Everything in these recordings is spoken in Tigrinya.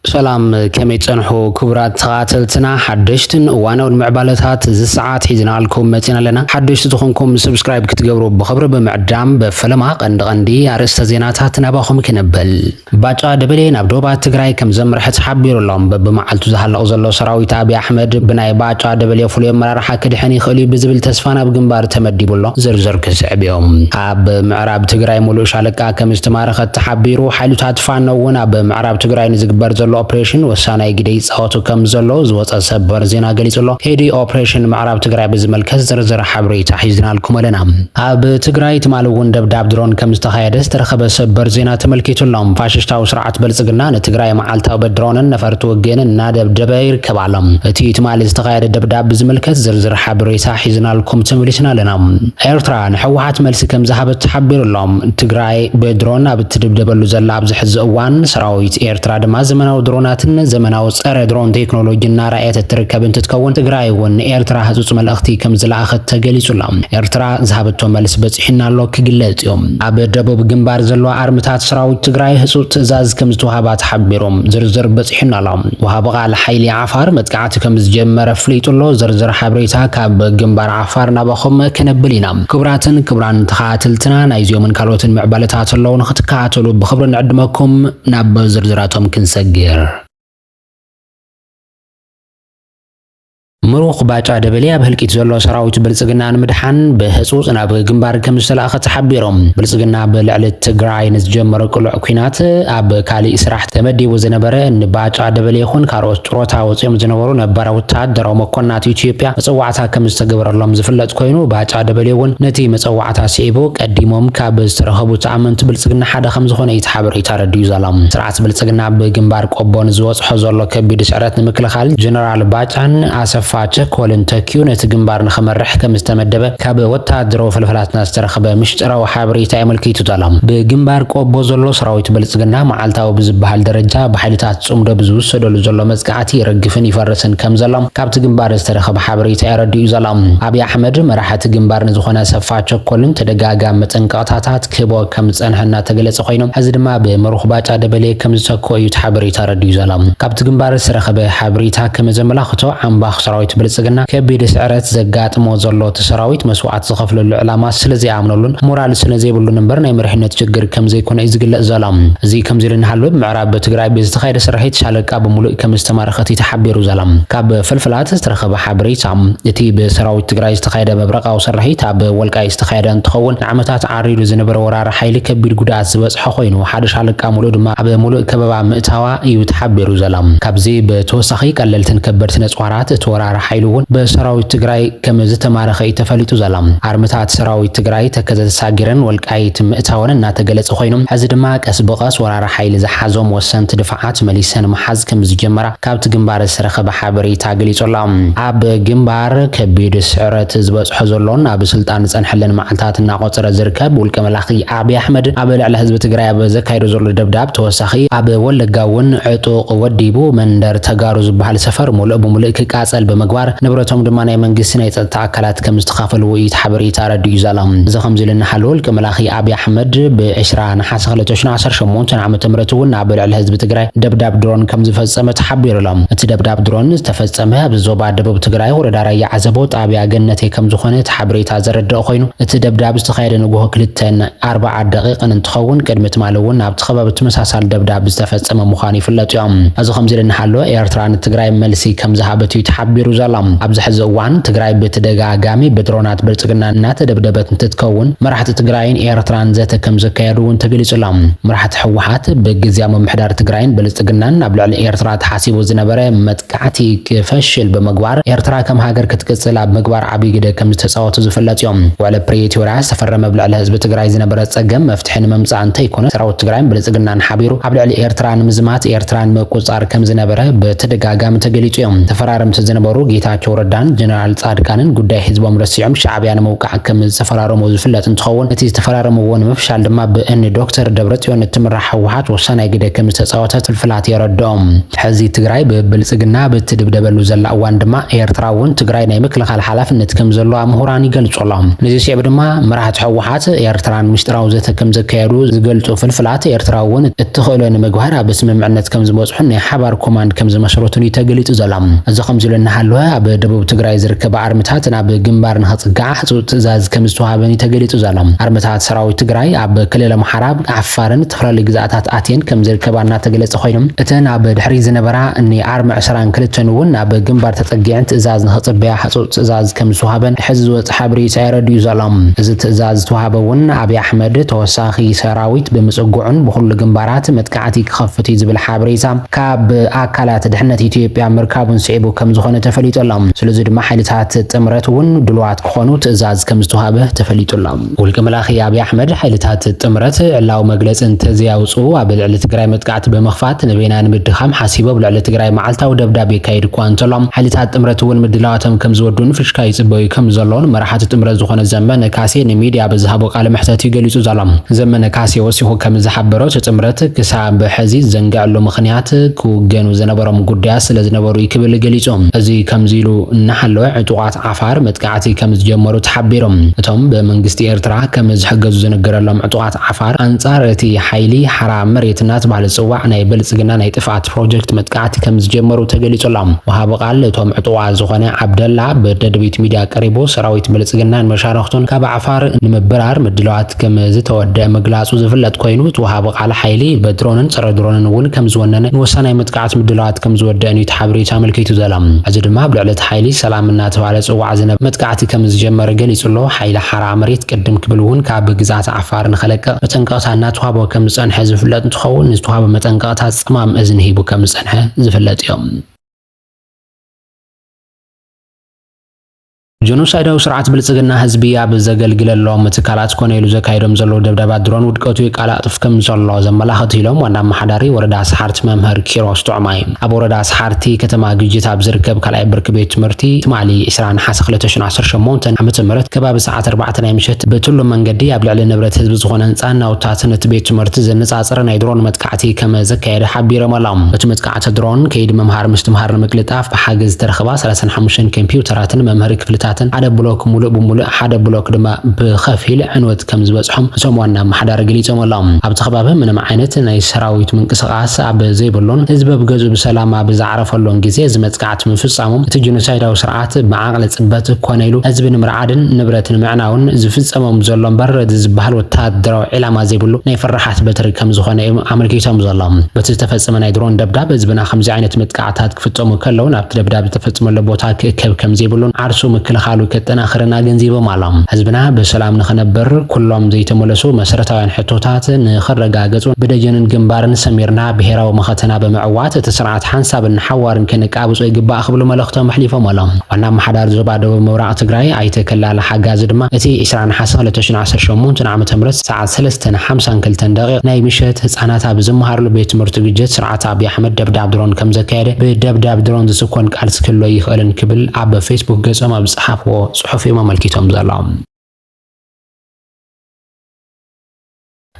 ሰላም ከመይ ትጸንሑ ክቡራት ተኸታተልትና ሓደሽትን እዋናውን ምዕባለታት እዚ ሰዓት ሒዝናልኩም መጺና ኣለና። ሓደሽቲ ዝኾንኩም ሰብስክራይብ ክትገብሩ ብኽብሪ ብምዕዳም በፈለማ ቀንዲ ቀንዲ ኣርእስተ ዜናታት ናባኹም ክነብል። ባጫ ደበሌ ናብ ዶባት ትግራይ ከም ዘምርሐ ተሓቢሩ ኣሎ። በብመዓልቱ ዝሃልቕ ዘሎ ሰራዊት ኣብይ ኣሕመድ ብናይ ባጫ ደበሌ ፍሉይ ኣመራርሓ ክድሕን ይኽእል'ዩ ብዝብል ተስፋ ናብ ግንባር ተመዲቡ ኣሎ። ዝርዝር ክስዕብ'ዩ። ኣብ ምዕራብ ትግራይ ሙሉእ ሻለቃ ከምዝተማረኸት ተሓቢሩ። ሓይልታት ፋኖ እውን ኣብ ምዕራብ ትግራይ ንዝግበር ዘሎ ኦፕሬሽን ወሳናይ ግደ ይፃወቱ ከምዘለዉ ዝወፀ ሰበር ዜና ገሊፁ ኣሎ። ሄዲ ኦፕሬሽን ምዕራብ ትግራይ ብዝምልከት ዝርዝር ሓበሬታ ሒዝናልኩም ኣለና። ኣብ ትግራይ ትማሊ እውን ደብዳብ ድሮን ከምዝተኻየደ ዝተረኸበ ሰበር ዜና ተመልኪቱ ኣሎ። ፋሽሽታዊ ስርዓት ብልፅግና ንትግራይ መዓልታዊ ብድሮንን ነፈርቲ ውግእን እናደብደበ ይርከብ ኣሎ። እቲ ትማሊ ዝተኻየደ ደብዳብ ብዝምልከት ዝርዝር ዓቢ ሬሳ ሒዝናልኩም ተመሊስና ኣለና። ኤርትራ ንሕወሓት መልሲ ከምዝሃበት ተሓቢሩ ኣሎ። ትግራይ ብድሮን ኣብ እትድብደበሉ ዘላ ኣብዚ ሕዚ እዋን፣ ሰራዊት ኤርትራ ድማ ዘመናዊ ድሮናትን ዘመናዊ ጸረ ድሮን ቴክኖሎጂ እናርኣየት እትርከብ እንትትከውን፣ ትግራይ እውን ንኤርትራ ህጹጽ መልእኽቲ ከምዝለኣኸት ተገሊጹ ኣሎ። ኤርትራ ዝሃበቶ መልስ በጺሑና ኣሎ ክግለጽ እዩ። ኣብ ደቡብ ግንባር ዘለዋ ኣርምታት ሰራዊት ትግራይ ህጹጽ ትእዛዝ ከምዝተዋህባ ተሓቢሩ። ዝርዝር በጺሑና ኣሎ። ወሃቢ ቃል ሓይሊ ዓፋር መጥቃዕቲ እቲ ከም ዝጀመረ ኣፍሊጡ ኣሎ። ዝርዝር ሓበሬታ ካብ ግንባር ዓፋር ናባኹም ክነብል ኢና። ክቡራትን ክቡራን ተኸታተልትና ናይዚኦምን ካልኦትን ምዕባለታት ኣለዉ ንኽትከታተሉ ብኽብሪ ንዕድመኩም። ናብ ዝርዝራቶም ክንሰግር። ምሩኽ ባጫ ደበሌ ኣብ ህልቂት ዘሎ ሰራዊት ብልጽግና ንምድሓን ብህጹጽ ናብ ግንባር ከም ዝተላእኸ ተሓቢሮም። ብልጽግና ብልዕሊ ትግራይ ንዝጀመሮ ቅሉዕ ኲናት ኣብ ካሊእ ስራሕ ተመዲቡ ዝነበረ ንባጫ ደበሌ ይኹን ካልኦት ጥሮታ ወጺኦም ዝነበሩ ነባራት ወተሃደራዊ መኮንናት ኢትዮጵያ መጸዋዕታ ከም ዝተገበረሎም ዝፍለጥ ኮይኑ፣ ባጫ ደበሌ እውን ነቲ መጸዋዕታ ስዒቡ ቀዲሞም ካብ ዝተረኸቡ ተኣመንቲ ብልጽግና ሓደ ከም ዝኾነ እዩ እቲ ሓበሬታ ኣረዲኡ ዘሎ። ስርዓት ብልጽግና ኣብ ግንባር ቆቦ ንዝበጽሖ ዘሎ ከቢድ ስዕረት ንምክልኻል ጀነራል ባጫን ኣሰፋ ቸኮልን ተኪኡ ነቲ ግንባር ንኽመርሕ ከም ዝተመደበ ካብ ወተሃደራዊ ፈልፈላትና ዝተረኽበ ምሽጥራዊ ሓበሬታ የመልኪቱ ዘሎ። ብግንባር ቆቦ ዘሎ ሰራዊት ብልጽግና መዓልታዊ ብዝበሃል ደረጃ ብሓይልታት ጽምዶ ብዝውሰደሉ ዘሎ መጽቃዕቲ ይረግፍን ይፈርስን ከም ዘሎ ካብቲ ግንባር ዝተረኸበ ሓበሬታ የረድእ'ዩ ዘሎ። ኣብይ ኣሕመድ መራሒ እቲ ግንባር ንዝኾነ ኣሰፋ ቸኮልን ተደጋጋሚ መጠንቀቕታታት ክህቦ ከም ዝጸንሐ እናተገለጸ ኮይኑ ሕዚ ድማ ብምሩኽ ባጫ ደበሌ ከም ዝተክኦ እዩ እቲ ሓበሬታ ኣረዲኡ ዘሎ። ካብቲ ግንባር ዝተረኸበ ሓበሬታ ከም ዘመላኽቶ ዓምባኽ ሰራዊት ብልጽግና ከቢድ ስዕረት ዘጋጥሞ ዘሎ እቲ ሰራዊት መስዋእቲ ዝኸፍለሉ ዕላማ ስለ ዘይኣምነሉን ሞራል ስለ ዘይብሉን እምበር ናይ መሪሕነት ችግር ከም ዘይኮነ እዩ ዝግለጽ ዘሎ። እዚ ከምዚ ኢሉ እናሃለወ ብ ኣብ ትግራይ ብዝተኻየደ ስርሒት ሻለቃ ብምሉእ ከምዝተማረኸት እዩ ተሓቢሩ ዘሎ። ካብ ፍልፍላት ዝተረኸበ ሓበሬታ፣ እቲ ብሰራዊት ትግራይ ዝተኻየደ መብረቓዊ ስርሒት ኣብ ወልቃይት ዝተኻየደ እንትኸውን፣ ንዓመታት ዓሪሩ ዝነበረ ወራሪ ሓይሊ ከቢድ ጉድኣት ዝበፅሖ ኮይኑ፣ ሓደ ሻለቃ ሙሉእ ድማ ኣብ ሙሉእ ከበባ ምእታዋ እዩ ተሓቢሩ ዘሎ። ካብዚ ብተወሳኺ ቀለልትን ከበድቲ ነፅዋራት እቲ ወራሪ ሓይሊ እውን ብሰራዊት ትግራይ ከምዝተማረኸ እዩ ተፈሊጡ ዘሎ። ኣርምታት ሰራዊት ትግራይ ተከዘ ተሳጊረን ወልቃይት ምእታወን እናተገለፀ ኮይኑ፣ ሕዚ ድማ ቀስ ብቐስ ወራሪ ሓይሊ ዝሓዞም ወሰንቲ ድፋዓት መሊሰን ምሓዝ ከምዝጀመራ ካብቲ ግንባር ዝተረኸበ ሓበሬታ ገሊጹ ኣሎ። ኣብ ግንባር ከቢድ ስዕረት ዝበጽሖ ዘሎን ኣብ ስልጣን ዝጸንሐለን መዓልታት እናቖጸረ ዝርከብ ውልቀ መላኺ ኣብይ ኣሕመድ ኣብ ልዕሊ ህዝቢ ትግራይ ኣብ ዘካይዶ ዘሎ ደብዳብ ተወሳኺ ኣብ ወለጋ እውን ዕጡቕ ወዲቡ መንደር ተጋሩ ዝበሃል ሰፈር ሙሉእ ብሙሉእ ክቃጸል ብምግባር ንብረቶም ድማ ናይ መንግስቲ ናይ ጸጥታ ኣካላት ከምዝተኻፈልዎ እዩ እቲ ሓበሬታ ኣረዲኡ ዘሎ። እዚ ከምዚ ኢሉ እናሃለወ ውልቀ መላኺ ኣብይ ኣሕመድ ብ ዕስራ ነሓሰ ነሐሰ ክልተ ሽሕ ዓሰርተ ሸሞንተ ዓመተ ምህረት እውን ኣብ ልዕሊ ህዝቢ ትግራይ ደብዳብ ድሮን ከምዝፈፀመ ተሓቢሩ ኣሎ። እቲ ደብዳብ ድሮን ዝተፈፀመ ኣብዚ ዞባ ደቡብ ትግራይ ወረዳ ራያ ዓዘቦ ጣብያ ገነቴ ከምዝኾነ እቲ ሓበሬታ ዘረደእ ኾይኑ እቲ ደብዳብ ዝተኻየደ ንጉሆ ክልተ ን ኣርባዓ ደቂቅን እንትኸውን ቅድሚ ትማሊ እውን ኣብቲ ኸባቢ ትመሳሳሊ ደብዳብ ዝተፈፀመ ምዃኑ ይፍለጥ እዮ። እዚ ከምዚ ኢሉ እናሃሎ ኤርትራ ንትግራይ መልሲ ከምዝሃበት እዩ ተሓቢሩ ዘሎ። ኣብዚ ሕዚ እዋን ትግራይ ብትደጋጋሚ ብድሮናት ብልፅግና እናተደብደበት እንትትከውን መራሕቲ ትግራይን ኤርትራን ዘተ ከም ዘካየዱ እውን ተገሊጹ ኣሎ። መራሕቲ ህወሓት ብግዝያዊ ምምሕዳር ትግራይን ብልጽግናን ኣብ ልዕሊ ኤርትራ ተሓሲቡ ዝነበረ መጥቃዕቲ ክፈሽል ብምግባር ኤርትራ ከም ሃገር ክትቅጽል ኣብ ምግባር ዓብይ ግደ ከም ዝተጻወቱ ዝፍለጥ እዩ። ውዕሊ ፕሪቶርያ ዝተፈረመ ኣብ ልዕሊ ህዝቢ ትግራይ ዝነበረ ጸገም መፍትሒ ንምምጻእ እንተይኮነ ሰራዊት ትግራይን ብልጽግናን ሓቢሩ ኣብ ልዕሊ ኤርትራ ንምዝማት ኤርትራን ምቁጽጻር ከም ዝነበረ ብተደጋጋሚ ተገሊጹ እዩ። ተፈራረምቲ ዝነበሩ ጌታቸው ረዳን ጀነራል ጻድቃንን ጉዳይ ህዝቦም ረሲዖም ሻዕብያ ንምውቃ ዓከም ዝተፈራረሞ ዝፍለጥ እንትኸውን እቲ ዝተፈራረምዎ ንምፍሻል ድማ ብእኒ ዶክተር ደብረፅዮን እትምራሕ ህወሓት ወሳናይ ግደ ከምዝተፃወተት ፍልፍላት የረድኦም። ሕዚ ትግራይ ብብልፅግና ኣብ እትድብደበሉ ዘላ እዋን ድማ ኤርትራ እውን ትግራይ ናይ ምክልኻል ሓላፍነት ከምዘለዋ ምሁራን ይገልፁ ኣለው። ነዚ ስዒቡ ድማ መራሕቲ ህወሓት ኤርትራን ምስጢራዊ ዘተ ከምዘካየዱ ዝገልፁ ፍልፍላት፣ ኤርትራ እውን እትኽእሎ ንምግባር ኣብ ስምምዕነት ከምዝበፅሑን ናይ ሓባር ኮማንድ ከምዝመስረቱን እዩ ተገሊፁ ዘሎ። እዚ ከምዚሉ እናሃለወ ኣብ ደቡብ ትግራይ ዝርከባ ኣርምታት ናብ ግምባር ንኽፅግዓ ህፁፅ ትእዛዝ ከምዝተውሃበን እዩ ተገሊፁ ዘሎ። ኣርምታት ሰራዊት ትግራይ ኣብ ክልል ኣምሓራ፣ ዓፋርን ዝተፈላለዩ ግዝኣታት ኣትየን ከምዝርከባ እናተገለፀ ኾይኑ፣ እተን ኣብ ድሕሪት ዝነበራ እኒ ኣርሚ ዕስራን ክልተን እውን ናብ ግምባር ተፀጊዐን ትእዛዝ ንኽፅበያ ህፁፅ ትእዛዝ ከምዝተውሃበን ሕዚ ዝወፀ ሓበሬታ የረድኡ ዘሎ። እዚ ትእዛዝ ዝተውሃበ እውን ኣብይ ኣሕመድ ተወሳኺ ሰራዊት ብምፅግዑን ብኹሉ ግምባራት መጥቃዕቲ ክኸፍት እዩ ዝብል ኣብ ሬሳ ካብ ኣካላት ድሕነት ኢትዮጵያ ምርካቡን ስዒቡ ከም ዝኾነ ተፈሊጡ ኣሎ። ስለዚ ድማ ሓይልታት ጥምረት እውን ድሉዋት ክኾኑ ትእዛዝ ከም ዝተውሃበ ተፈሊጡ ኣሎ። ውልቀ መላኺ ኣብይ ኣሕመድ ሓይልታት ጥምረት ዕላዊ መግለፂ እንተዘይኣውፅኡ ኣብ ልዕሊ ትግራይ መጥቃዕቲ ብምኽፋት ንበይና ንምድኻም ሓሲቡ ኣብ ልዕሊ ትግራይ መዓልታዊ ደብዳብ የካይድ እኳ እንተሎ ሓይልታት ጥምረት እውን ምድላዋቶም ከም ዝወዱኡን ፍሽካ ይፅበዩ ከም ዘሎን መራሕቲ ጥምረት ዝኾነ ዘመነ ካሴ ንሚድያ ኣብ ዝሃቦ ቃለ መሕተት እዩ ገሊፁ ዘሎ። ዘመነ ካሴ ወሲኹ ከም ዝሓበሮ እቲ ጥምረት ክሳብ ሕዚ ዝዘንገዐሉ ምኽንያት፣ ክውገኑ ዝነበሮም ጉዳያት ስለዝነበሩ'ዩ ክብል ገሊጹ። እዚ ከምዚ ኢሉ እናሃለወ፣ ዕጡቓት ዓፋር መጥቃዕቲ ከምዝጀመሩ ተሓቢሩ። እቶም ብመንግስቲ ኤርትራ ከምዝሕገዙ ዝንገረሎም ዕጡቓት ዓፋር፣ ኣንጻር እቲ ሓይሊ ሓራ መሬት እናተባህለ ዝጽዋዕ ናይ ብልጽግና ናይ ጥፍኣት ፕሮጀክት መጥቃዕቲ ከምዝጀመሩ ተገሊጹ ኣሎ። ወሃቢ ቃል እቶም ዕጡቓት ዝኾነ ዓብደላ፣ ብደደቢት ሚድያ ቀሪቡ፣ ሰራዊት ብልጽግናን መሻርኽቱን ካብ ዓፋር ንምብራር ምድላዋት ከም ዝተወደኣ ምግላጹ ዝፍለጥ ኮይኑ፣ እቲ ወሃቢ ቃል ሓይሊ ብድሮንን ጸረ ድሮንን እውን ከም ዝወነነ ንወሳናይ መጥቃዕቲ ምድላዋት ከም ዝወደእን እዩ እቲ ሓበሬታ ኣመልኪቱ ዘሎ። ሕዚ ድማ ኣብ ልዕሊ እቲ ሓይሊ ሰላም እናተባህለ ዝጽዋዕ ዝነበ መጥቃዕቲ ከም ዝጀመረ ገሊጹ ኣሎ። ሓይሊ ሓራ መሬት ቅድም ክብል እውን ካብ ግዝኣት ዓፋር ንኸለቅቕ መጠንቀቕታ እናተዋህቦ ከም ዝጸንሐ ዝፍለጥ እንትኸውን፣ ንዝተዋህበ መጠንቀቕታ ጸማም እዝኒ ሂቡ ከም ዝጸንሐ ዝፍለጥ እዩ። ጀኖሳይዳዊ ስርዓት ብልጽግና ህዝቢ ኣብ ዘገልግለሎም ትካላት ኮነ ኢሉ ዘካይዶም ዘለዉ ደብዳባት ድሮን ውድቀቱ የቃላጥፍ ከም ዘሎ ዘመላኽት ኢሎም ዋና ኣመሓዳሪ ወረዳ ሰሓርቲ መምህር ኪሮስ ጥዑማይ። ኣብ ወረዳ ሰሓርቲ ከተማ ግጅት ኣብ ዝርከብ ካልኣይ ብርኪ ቤት ትምህርቲ ትማሊ ዕስራ ነሓሰ ክልተ ሽሕን ዓሰርተ ሸሞንተን ዓመተ ምህረት ከባቢ ሰዓት ኣርባዕተ ናይ ምሸት ብትሉም መንገዲ ኣብ ልዕሊ ንብረት ህዝቢ ዝኾነ ህንጻን ናውትታትን እቲ ቤት ትምህርቲ ዘነጻጸረ ናይ ድሮን መጥቃዕቲ ከም ዘካየደ ሓቢሮም ኣሎም። እቲ ኣቲ ድሮን ከይዲ ምምሃር ምስትምሃር ንምቅልጣፍ ብሓገዝ ዝተረኽባ ሰላሳን ሓሙሽተን ከምፒውተራትን መምሀሪ ክፍልታትን ሓደ ብሎክ ሙሉእ ብሙሉእ ሓደ ብሎክ ድማ ብኸፊል ዕንወት ከምዝበፅሖም እቶም ዋና ኣመሓዳሪ ገሊፆም ኣለው። ኣብቲ ከባቢ ምንም ዓይነት ናይ ሰራዊት ምንቅስቓስ ኣብ ዘይብሉን ህዝቢ ኣብ ገዝኡ ብሰላም ኣብ ዝዓረፈሉን ግዜ እዚ መጥቃዕቲ ስርዓት ምፍጻሞም፣ እቲ ጂኖሳይዳዊ ስርዓት ብዓቕሊ ጽበት ኮነ ኢሉ ህዝቢ ንምርዓድን ንብረት ንምዕናውን ዝፍጸሞም ዘሎ እምበር እዚ ዝበሃል ወተሃደራዊ ዒላማ ዘይብሉ ናይ ፈራሓት በትሪ ከምዝኾነ እዮም ኣመልኪቶም ዘሎም። በቲ ዝተፈጸመ ናይ ድሮን ደብዳብ ህዝብና ከምዚ ዓይነት መጥቃዕትታት ክፍጸሙ ከለው ናብቲ ደብዳብ ዝተፈጸመሉ ቦታ ክእከብ ከምዘይብሉን ዓርሱ ምክልኻሉ ከጠናኽርን ኣገንዚቦም ኣሎም። ህዝብና ብሰላም ንኽነብር ኩሎም ዘይተመለሱ መሰረታውያን ሕቶታት ንኽረጋገጹን ብደጀንን ግንባርን ሰሚርና ብሄራዊ መኸተና ብምዕዋት እቲ ስርዓት ሓንሳብን ሓዋርን ከነቃብጾ ይግባእ ክብሉ መልእኽቶም ኣሕሊፎም ኣሎም። ዋና ኣመሓዳሪ ዞባ ደቡብ ምብራቕ ትግራይ ኣይተ ከላለ ሓጋዚ ድማ እቲ ዕስራ ነሓሰ ክልተ ሽሕን ዓሰርተ ሸሞንተን ዓመተ ምህረት ሰዓት ሰለስተን ሓምሳን ክልተን ደቒቕ ናይ ምሸት ህጻናት ኣብ ዝመሃርሉ ቤት ትምህርቲ ግጀት ስርዓት ኣቢይ ኣሕመድ ደብዳብ ድሮን ከምዘካየደ ብደብዳብ ድሮን ዝስኮን ቃልሲ ክህሉ ኣይኽእልን ክብል ኣብ ፌስቡክ ገጾም ኣብ ዝጸሓፍዎ ጽሑፍ እዮም ኣመልኪቶም ዘሎም።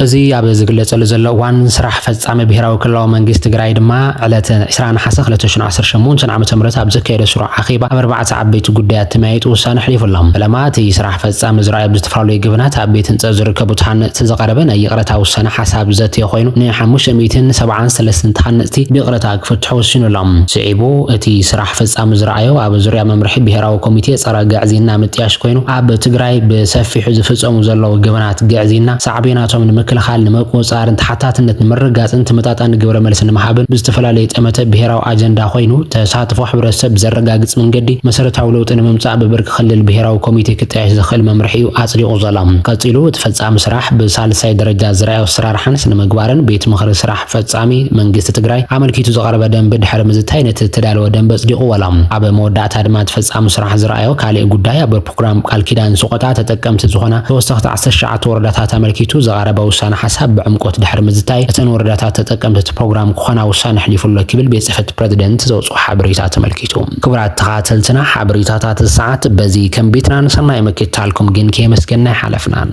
እዚ ኣብ ዝግለፀሉ ዘሎ እዋን ስራሕ ፈፃሚ ብሄራዊ ክልላዊ መንግስቲ ትግራይ ድማ ዕለት ዕስራ ነሓሰ ክልተ ሽሕ ዓሰርተ ሸሞንተ ዓመተ ምህረት ኣብ ዘካየዶ ስሩዕ ኣኼባ ኣብ ኣርባዕተ ዓበይቲ ጉዳያት ተመያይጡ ውሳነ ኣሕሊፉ ኣሎ። ፈለማ እቲ ስራሕ ፈፃሚ ዝርኣዩ ኣብ ዝተፈላለዩ ገበናት ኣብ ቤት ህንፀት ዝርከቡ ተሃነፅቲ ዝቐረበ ናይ ይቕረታ ውሳነ ሓሳብ ዘተየ ኮይኑ ን ሓሙሽተ ሚእትን ሰብዓን ሰለስትን ተሃነፅቲ ብይቕረታ ክፍትሑ ወሲኑ ኣሎ። ስዒቡ እቲ ስራሕ ፈጻሚ ዝረኣዮ ኣብ ዙርያ መምርሒ ብሄራዊ ኮሚቴ ፀረ ግዕዝይና ምጥያሽ ኮይኑ ኣብ ትግራይ ብሰፊሑ ዝፍፀሙ ዘለዉ ገበናት ግዕዝይና ሳዕቤናቶም ንምክልኻል፣ ንምቁፅፃርን ተሓታትነት ንምርግጋፅን ተመጣጣኒ ግብረ መልሲ ንምሃብን ብዝተፈላለዩ ጠመተ ብሄራዊ ኣጀንዳ ኮይኑ ተሳትፎ ሕብረተሰብ ብዘረጋግፅ መንገዲ መሰረታዊ ለውጢ ንምምፃእ ብብርኪ ክልል ብሄራዊ ኮሚቴ ክጣየሽ ዝኽእል መምርሒ እዩ ኣፅዲቑ ዘሎ። ቀፂሉ እቲ ፈፃሚ ስራሕ ብሳልሳይ ደረጃ ዝረኣዮ ኣሰራርሓን ስነ ምግባርን ቤት ምኽሪ ስራሕ ፈፃሚ መንግስቲ ትግራይ ኣመልኪቱ ዝቐረበ ደንቢ ድሕሪ ምዝታይ ነቲ ዝተዳለወ ደንቢ ኣፅዲቑ ዋላ ኣብ መወዳእታ ድማ እቲ ፈፃሚ ስራሕ ዝረኣዮ ካሊእ ጉዳይ ኣብ ፕሮግራም ቃል ኪዳን ስቖጣ ተጠቀምቲ ዝኾና ተወሰኽቲ ዓሰርተ ትሽዓተ ወረዳታት ኣመልኪቱ ዝቐረበ ውሳነ ሓሳብ ብዕምቆት ድሕሪ ምዝታይ እተን ወረዳታት ተጠቀምቲ እቲ ፕሮግራም ክኾና ውሳነ ኣሕሊፉ ኣሎ ክብል ቤት ፅሕፈት ፕረዚደንት ዘውፅኦ ሓበሬታ ተመልኪቱ። ክቡራት ተኻተልትና ሓበሬታታት እዚ ሰዓት በዚ ከም ቤትናን ሰናይ ምክትታልኩም ግን ከየመስገና ኣይሓለፍናን።